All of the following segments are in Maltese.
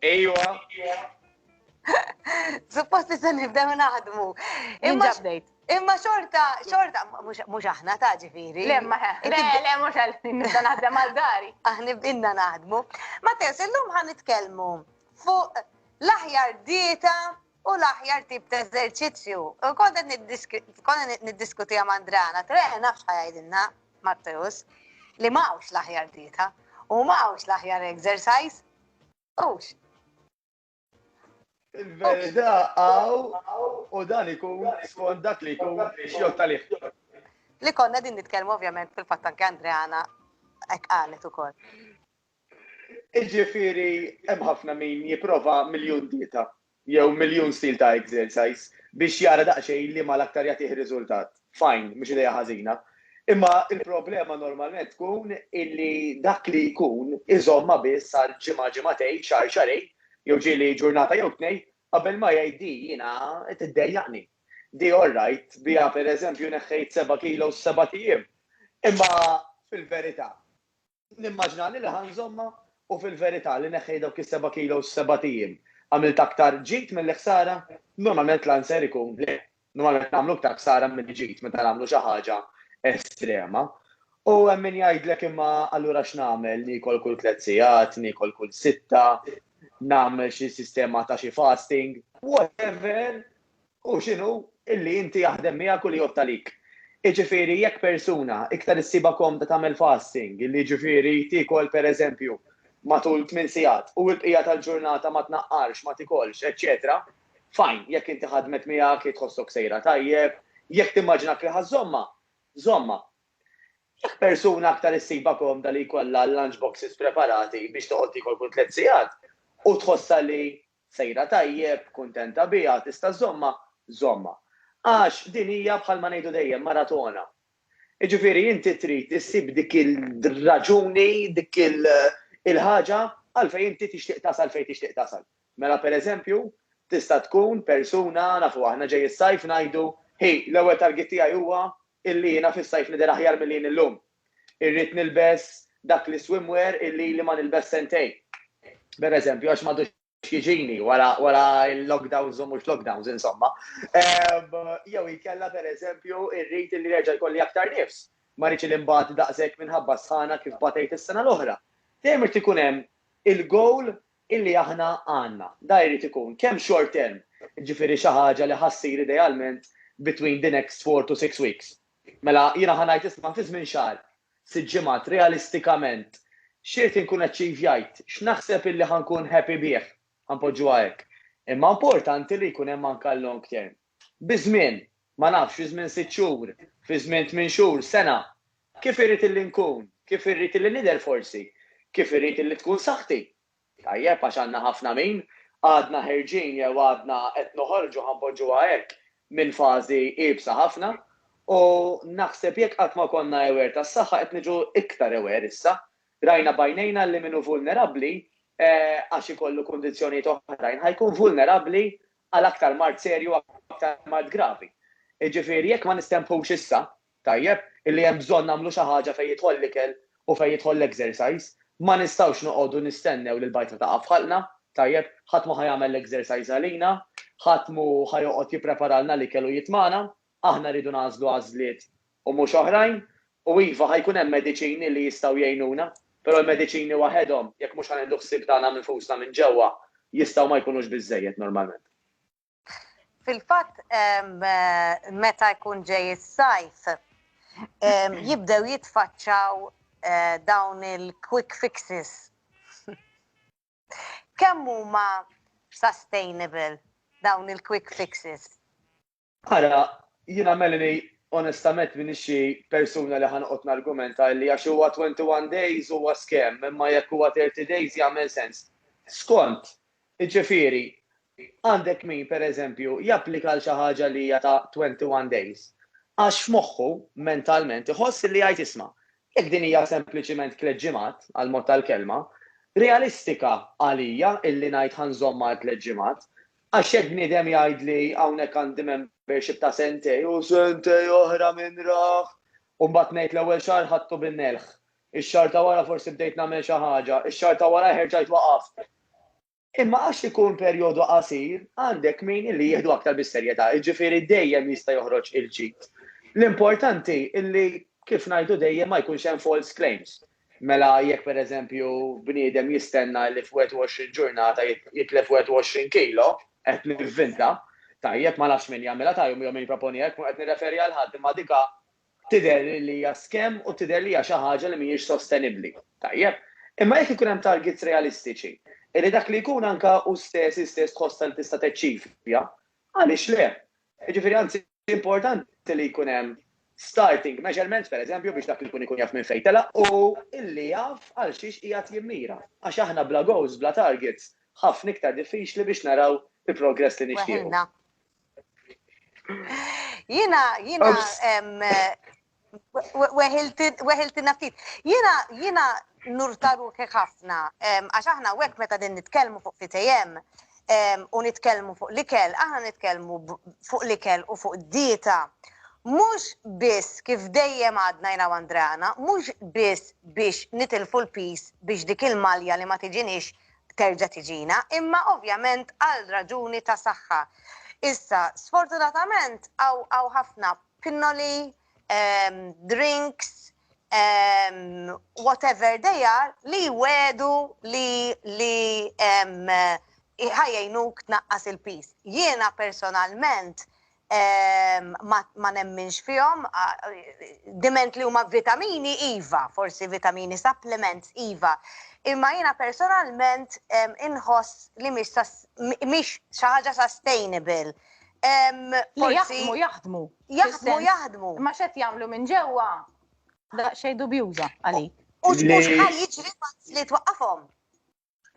Ejwa. Suppost se nibdew naħdmu. Imma ġabdejt. Imma xorta, xorta, mux aħna ta' ġifiri. Le, ma, le, le, mux għal, nibda naħdem għal dari. Aħni b'inna naħdmu. Ma tess, illum ħan nitkelmu fuq l-aħjar dieta u l-aħjar tip ta' eżerċizzju. U kont qed niddiskutija ma' Andrana, tre nafx ħajajdilna Matteus li m'hawnx l-aħjar dieta u m'hawnx l-aħjar exercise. Ux. Il-verità għaw u dan ikun skont dak li jkun xjot tal Li konna din nitkellmu ovvjament fil-fatt anke Andreana hekk qalet ukoll. Iġifieri hemm ħafna min jipprova miljun dieta jew miljun stil ta' exercise biex jara daqsxejn liema l-aktar jagħtih riżultat. Fine, mhux idea ħażina. Imma l-problema normalment tkun illi dak li jkun iżommha biss għal ġimgħa ġimgħatejn, xahar xahrejn, jew ġieli ġurnata jew tnejn, qabel ma jgħid di jiena qed iddejjaqni. Di all right, biha pereżempju neħħejt seba' kilos f'sebat ijiem. Imma fil-verità, Nimmaġina li ħa nżommha u fil-verità li neħħejt dawk is-seba' kilos f'sebat ijiem. Għamilt aktar ġid milli ħsara? Normalment l-answer ikun le. Normalment nagħmlu aktar ħsara milli ġid meta nagħmlu xi ħaġa estrema. U hemm min jgħidlek imma allura x'nagħmel, niekol kull tliet sigħat, niekol kull sitta, nagħmel xi sistema ta' xi fasting, whatever, Hu x'inhu li inti jaħdem miegħek u li jgħodd għalik. Jiġifieri jekk persuna iktar issibha komda tagħmel fasting, li jiġifieri tiekol pereżempju matul tmien sigħat u l-bqija tal-ġurnata ma tnaqqarx, ma tikolx, eċċetera, fine, jekk inti ħadmet miegħek, hi tħossok sejra tajjeb, jekk timmaġinak li ħa żżommha, żommha. Jekk persuna aktar issibha komda li jkollha l-lunch boxes preparati biex toqgħod tiekol kull tliet sigħat u tħossha li sejra tajjeb, kuntenta biha, tista' żżommha, żommha. Għax din hija bħalma ngħidu dejjem maratona. Jiġifieri inti trid issib dik ir-raġuni, dik il-ħaġa għalfejn inti tixtieq tasal fejn tixtieq tasal. Mela pereżempju, tista' tkun persuna, nafu aħna ġej is-sajf ngħidu, hi, l-ewwel target tiegħi huwa Illi jiena fis-sajf nidher aħjar milli jien illum. Irrid nilbes dak l-iswimwear illi ili ma nilbes sentejn, per eżempju, għax m'għadux jiġini wara l-lockdowns u mhux lockdowns, insomma. Jew inkella, per eżempju, irrid illi nerġa' jkolli aktar nifs. Ma rridx li nbgħat daqshekk minħabba s-sħana kif batejt is-sena l-oħra. Dejjem irid ikun hemm il-goal illi aħna għandna. Dan irid ikun kemm short term, jiġifieri xi ħaġa li ħa ssir idealment between the next four to six weeks. Mela jiena ħa ngħid isma' fi żmien xahar, sitt ġimgħat, realistikament x'irid inkun achievjajt, x'naħseb illi ħa nkun happy bih, ħa npoġġuha hekk. Imma importanti li jkun hemm anke l-long term. Biż-żmien, ma nafx, fi żmien sitt xhur, fi żmien tmien xhur, sena. Kif irrid illi nkun? Kif irrid illi nidher forsi? Kif irrid illi tkun saħħti? Tajjeb, għax għandna ħafna min, għadna ħerġin jew għadna qed noħorġu, ħa npoġġuha hekk, minn fażi iebsa ħafna. U naħseb jekk qatt ma konna aware tas-saħħa qed niġu iktar aware issa. Rajna b'għajnejna illi min hu vulnerabbli għax ikollu kundizzjonijiet oħrajn ħa jkun vulnerabbli għal aktar mard serju u aktar mard gravi. Jiġifieri jekk ma nistempħux issa, tajjeb, illi hemm bżonn nagħmlu xi ħaġa fejn jidħol l-ikel u fejn jidħol l-exercise, ma nistgħux noqogħdu nistennew li l-bajta taqa' f'ħalqna, tajjeb, ħadd mhu ħa jagħmel l-exercise għalina, ħadd mhu ħa joqgħod jippreparalna l-ikel u jitmagħna. Aħna rridu nagħżlu għażliet u mhux oħrajn. U iva, ħa jkun hemm mediċini li jistgħu jgħinuna, però l-mediċini waħedhom, jekk mhux ħa nieħdu ħsieb tagħna nfusna minn ġewwa, jistgħu ma jkunux biżżejjed normalment. Fil-fatt, meta jkun ġej is-sajf, jibdew jitfaċċaw dawn il-quick fixes. Kemm huma sustainable dawn il-quick fixes? Ara, jiena Melanie onestament m'iniex xi persuna li ħa noqgħod nargumenta illi għax huwa 21 days huwa scam imma jekk huwa 30 days jagħmel sens. Skont! Jiġifieri, għandek min, per eżempju, japplika għal xi ħaġa li hija ta' 21 days għax f'moħħu, mentalment, iħoss illi jgħid isma', jekk din hija sempliċiment tliet ġimgħat, għall-mod tal-kelma, realistika għalija illi ngħid ħa nżommha għal tliet ġimgħat, Għax jekk bniedem jgħidli hawnhekk għandi membership ta' sentejn u sentejn oħra min rah, u mbagħad ngħid l-ewwel xahar ħadtu bil-melħ, ix-xahar ta' wara forsi bdejt nagħmel xi ħaġa, ix-xahar ta' warajh erġajt waqaft. Imma għax ikun perjodu qasir, għandek min illi jieħdu aktar bis-serjetà, jiġifieri dejjem jista' joħroġ il-ġid. L-importanti illi kif ngħidu dejjem ma jkunx hemm false claims. Mela jekk pereżempju bniedem jistenna li f'21 ġurnata jitlef 21 kilo, qed nivvinta, tajjeb, ma nafx min jagħmilha ta' jum jew min jipproponiha jekk mhu qed nirreferi għal ħadd imma dika tidher li li hija scam u tidher li hija xi ħaġa li mhijiex sostenibbli, tajjeb. Imma jekk ikun hemm targets realistiċi, illi dak li jkun anke hu stess hi stess tħossha li tista' taċċivja, għaliex le? Jiġifieri anzi Importanti li jkun hemm starting measurements, pereżempju, biex dak li jkun ikun jaf minn fejn telaq u illi jaf għal xiex qiegħed jimmira. Għax aħna bla goals, bla targets, ħafna iktar diffiċli biex naraw il-progress li nixtiequ. Weħilna. Jiena, jiena, Weħiltina ftit. Jiena jiena nurtaru ħafna għax aħna hekk meta din nitkellmu fuq fitejjem u nitkellmu fuq l-ikel, aħna nitkellmu fuq l-ikel u fuq dieta. Mhux biss kif dejjem għadna jina Andrana, mhux biss biex nitilfu l-pis biex dik il-malja li ma tiġinix terġa' tiġina, imma ovvjament għal raġuni ta' saħħa. Issa, sfortunatament hawn ħafna pinnoli, drinks, whatever they are, li jwegħdu li ħa jgħinuk tnaqqas il-piż. Jiena personalment ma nemminx fihom, diment li huma vitamini iva, forsi vitamini supplements iva, imma jiena personalment inħoss li mhix xi ħaġa sustainable Jaħdmu, jaħdmu. Jaħdmu, jaħdmu. Ma xed jagħmlu minn ġewwa daqsxejn dubjuża għalik. U xħal jiġri li twaqqafhom.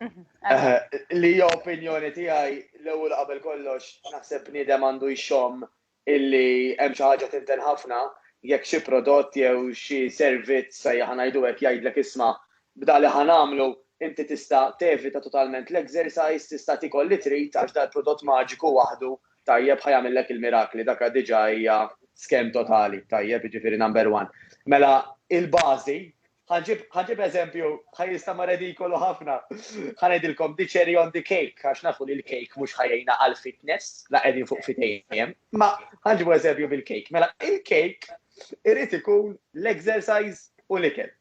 Mhm, eh, eh, li jo opinjoni tiegħi l-ewwel qabel kollox naħseb bniedem għandu jxomm illi hemm xi ħaġa tinten ħafna jekk xi prodott jew xi servizz sejjaħ ngħidu hekk jgħidlek isma' B'dak li ħa nagħmlu, inti tista' tevita totalment l-exercise, tista' tiekol li trid għax dal-prodott maġiku waħdu, tajjeb, ħa jagħmillek il-mirakli, dakha diġà hija scam totali, tajjeb, jiġifieri number one. Mela, il-bażi, ħa nġib, ħa nġib eżempju, ħa jinstama' redikolu ħafna, ħa ngħidilkom the cherry on the cake, għax nafu li l-cake mhux ħa jgħinna għall-fitness, la qegħdin fuq fitejjem, imma ħa nġibu eżempju bil-cake. Mela, il-cake irid ikun l-exercise u l-ikel.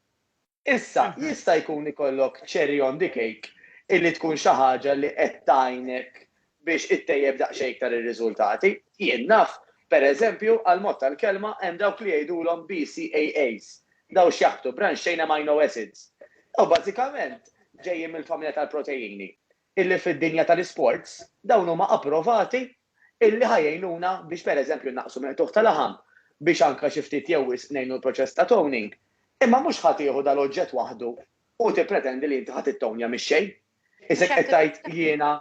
Issa, jista' jkun ikollok cherry on the cake illi tkun xi ħaġa li qed tgħinek biex ittejjeb daqsxejn iktar ir-riżultati. Jien naf, per eżempju, għall-mod tal-kelma hemm dawk li jgħidulhom BCAAs, dawn x'jaħbtu, branched chain amino acids. Dawn bażikament ġejjin mill-familja tal-protejini. illi fid-dinja tal-isports dawn huma approvati illi ħa jgħinuna biex pereżempju nnaqqsu mill-qtugħ ta' laħam, biex anke xi ftit jew wisq ngħinu l-proċess ta' toning. Imma mhux ħa tieħu dal-oġġett waħdu u tippretendi li inti ħa tittownja mix-xejn. Isek qed tgħid jiena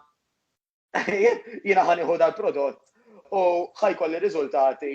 jiena ħa nieħu dal-prodott u ħa jkolli riżultati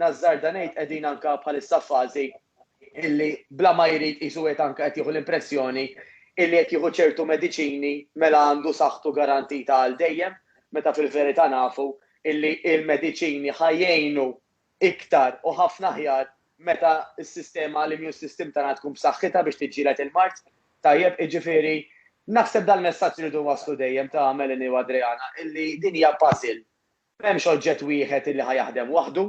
Nażżarda ngħid qegħdin anke bħalissa f'fażi illi bla ma jrid qisu qiegħed anke qed jieħu l-impressjoni illi qed jieħu ċertu mediċini mela għandu saħħtu garantita għal dejjem meta fil-verità nafu illi l-mediċini ħa jgħinu iktar u ħafna aħjar meta s-sistema l-immune system tagħna tkun b'saħħitha biex tiġġieled il-mard. Tajjeb, iġifieri naħseb dal-messaġġ irridu waslu dejjem ta' Melanie u Adriana illi din hija puzzle M'hemmx oġġett wieħed illi ħa jaħdem waħdu.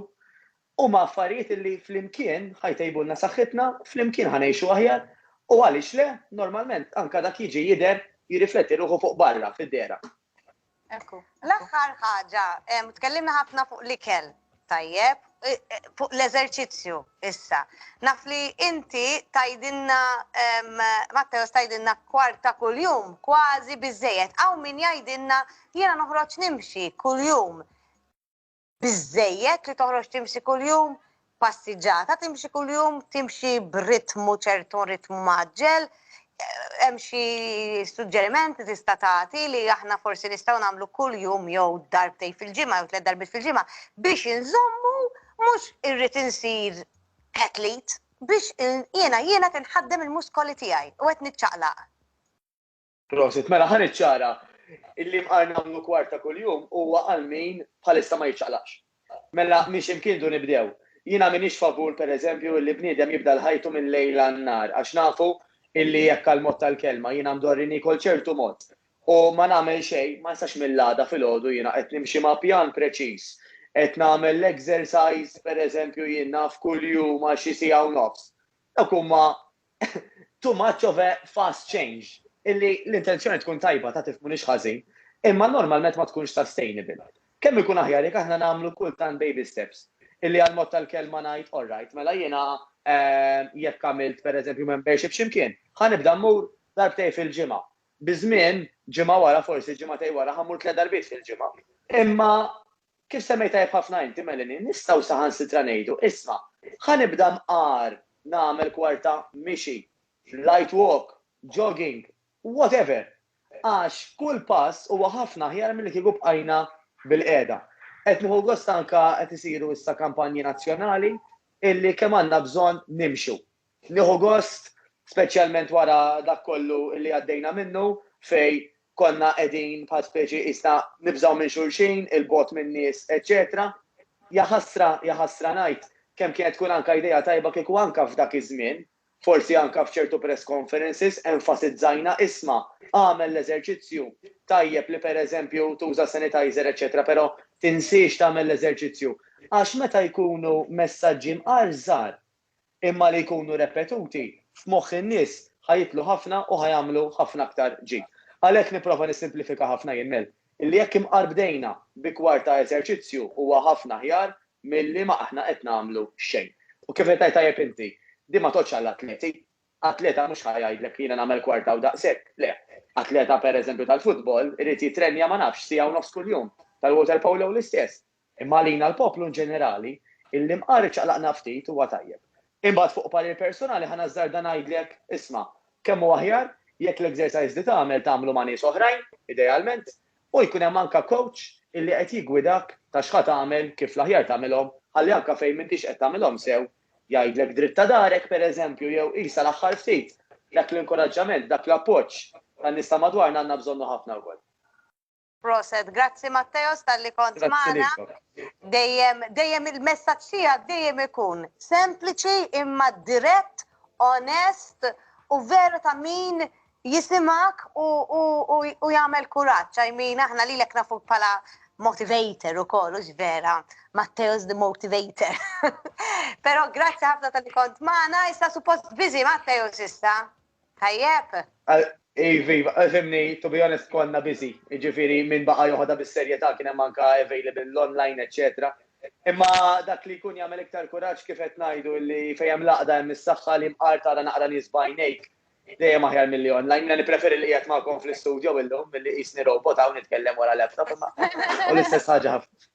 Huma affarijiet illi flimkien ħa jtejbulna saħħitna, flimkien ħa ngħixu aħjar u għaliex le, normalment anke dak jiġi jidher, jirrifletti ruħu fuq barra, fid-dehra. Ekku. L-aħħar ħaġa, tkellimna ħafna fuq l-ikel, tajjeb, fuq l-eżerċizzju issa. Naf li inti tajdinna, Matteos tajdinna kwarta kuljum, kważi biżejjed. Hawn min jgħidilna Jiena noħroġ nimxi kuljum. Biżejjed li toħroġ timxi kuljum, passiġġata timxi kuljum, timxi b'ritmu ċertu ritmu maġġel, hemm xi suġġeriment li tista' tagħti li aħna forsi nistgħu nagħmlu kull jum jew darbtej fil-ġimgħa jew tliet darbit fil-ġimgħa biex inżommu mhux irrid insir athlete biex jiena jiena tinħaddem il-muskoli tiegħi u qed niċċaqlaq. Prosit, mela ħan iċċara illi mqar nagħmlu kwarta kuljum huwa għal min bħalissa ma jiċċaqlaqx. Mela miex imkien du nibdew. Jiena minix favur pereżempju illi bniedem jibda l-ħajtu minn lejl għan-nhar għax nafu illi hekk għall-mod tal-kelma jiena mdorri niekol ċertu mod u ma nagħmel xejn ma nistax mill-għada filgħodu jiena qed nimxi ma' pjan preċiż. Qed nagħmel l-exercise pereżempju jien naf kuljum għal xi siegħa u nofs. Dawk huma too much of a fast change illi l-intenzjoni tkun tajba ta' tifhmuni x'ħażin, imma normalment ma tkunx sustainable. Kemm ikun aħjar jekk aħna nagħmlu kultant baby steps, illi għall-mod tal-kelma ngħid alright, mela jiena jekk għamilt pereżempju membership xi mkien, ħa nibda mmur darbtejn fil-ġimgħa. Biż-żmien, ġimgħa wara, forsi ġimagħtejn wara, ħa mmur tliet darbiet fil-ġimgħa. Imma Kif semmejt tajjeb ħafna inti, Melanie, nistgħu saħansitra ngħidu, 'Isma', ħa nibda mqar nagħmel kwarta mixi, light walk, jogging, whatever, għax kull pass huwa ħafna aħjar milli kieku bqajna bilqiegħda. Qed nieħu gost anke qed isiru issa kampanji nazzjonali illi kemm għandna bżonn nimxu. Nieħu gost, speċjalment wara dak kollu li għaddejna minnu, fejn konna qegħdin bħal speċi qisna nibżgħu minn xulxin, 'il bogħod min-nies, eċċetera Ja ħasra, ja ħasra ngħid, kemm kienet tkun anke idea tajba kieku anke f'dak iż-żmien, forsi anke f'ċertu press conferences, enfasizzajna, isma', agħmel l-eżerċizzju, tajjeb li pereżempju tuża sanitizer, eċċetera, però tinsiex tagħmel l-eżerċizzju. Għax meta jkunu messaġġi mqar żgħar, imma li jkunu repetuti f'moħħ in-nies ħa jitlu ħafna u ħa jagħmlu ħafna aktar ġid. Għalhekk nipprova nissimplifika ħafna jien ngħid li jekk imqar bdejna bi kwart ta' eżerċizzju huwa ħafna aħjar milli ma aħna qed nagħmlu xejn. U kif qed tgħid tajjeb inti, din ma tgħoddx għall-atleti. Atleta mhux ħa jgħidlek jiena nagħmel kwarta u daqshekk, le. Atleta pereżempju tal-futbol irid jittrenja ma nafx siegħa u nofs kuljum, tal-water polo l-istess. Imma għalina l-poplu inġenerali, illi mqar iċċaqlaqna ftit, huwa tajjeb. Imbagħad fuq parir personali ħa nażżarda ngħidlek, isma', kemm hu aħjar jekk l-exercise li tagħmel tagħmlu ma' nies oħrajn, idealment, u jkun hemm anka coach illi qed jiggwidak ta' x'ħa tagħmel, kif l-aħjar tagħmilhom, ħalli anka fejn m'intix qed tagħmilhom sew, jgħidlek dritt ta' darek, pereżempju, jew qisha l-aħħar ftit. Dak l-inkoraġġament, dak l-appoġġ tan-nies ta' madwarna għandna bżonnu ħafna wkoll. Proset, grazzi Matteos tal-li kont maħna. Dejjem, dejjem il-messaċ tijak dejjem ikun sempliċi imma dirett, onest u veru ta' min jisimak u, u, u, u jagħmel kuraġġ. I mean, aħna li lek nafu pala motivator u kollu vera, Matteo's the motivator. Pero grazzi ħafna tal kont maħna, issa suppost bizi Matteo's issa. Tajjeb. Iva, iva, fimni, to be honest, konna busy. Ġifiri, minn baqa joħodha bis-serjetà kien hemm anke available l-online, eċċetera. Imma dak li jkun jagħmel iktar kuraġġ kif qed ngħidu li fejn hemm l-għaqda hemm is-saħħa li mqar tara naqra nies b'għajnejk dejjem aħjar milli online. Jiena nippreferi li qiegħed magħkom fl-istudjo illum milli qisni robot hawn nitkellem wara laptop imma hu l-istess ħaġa ħafna.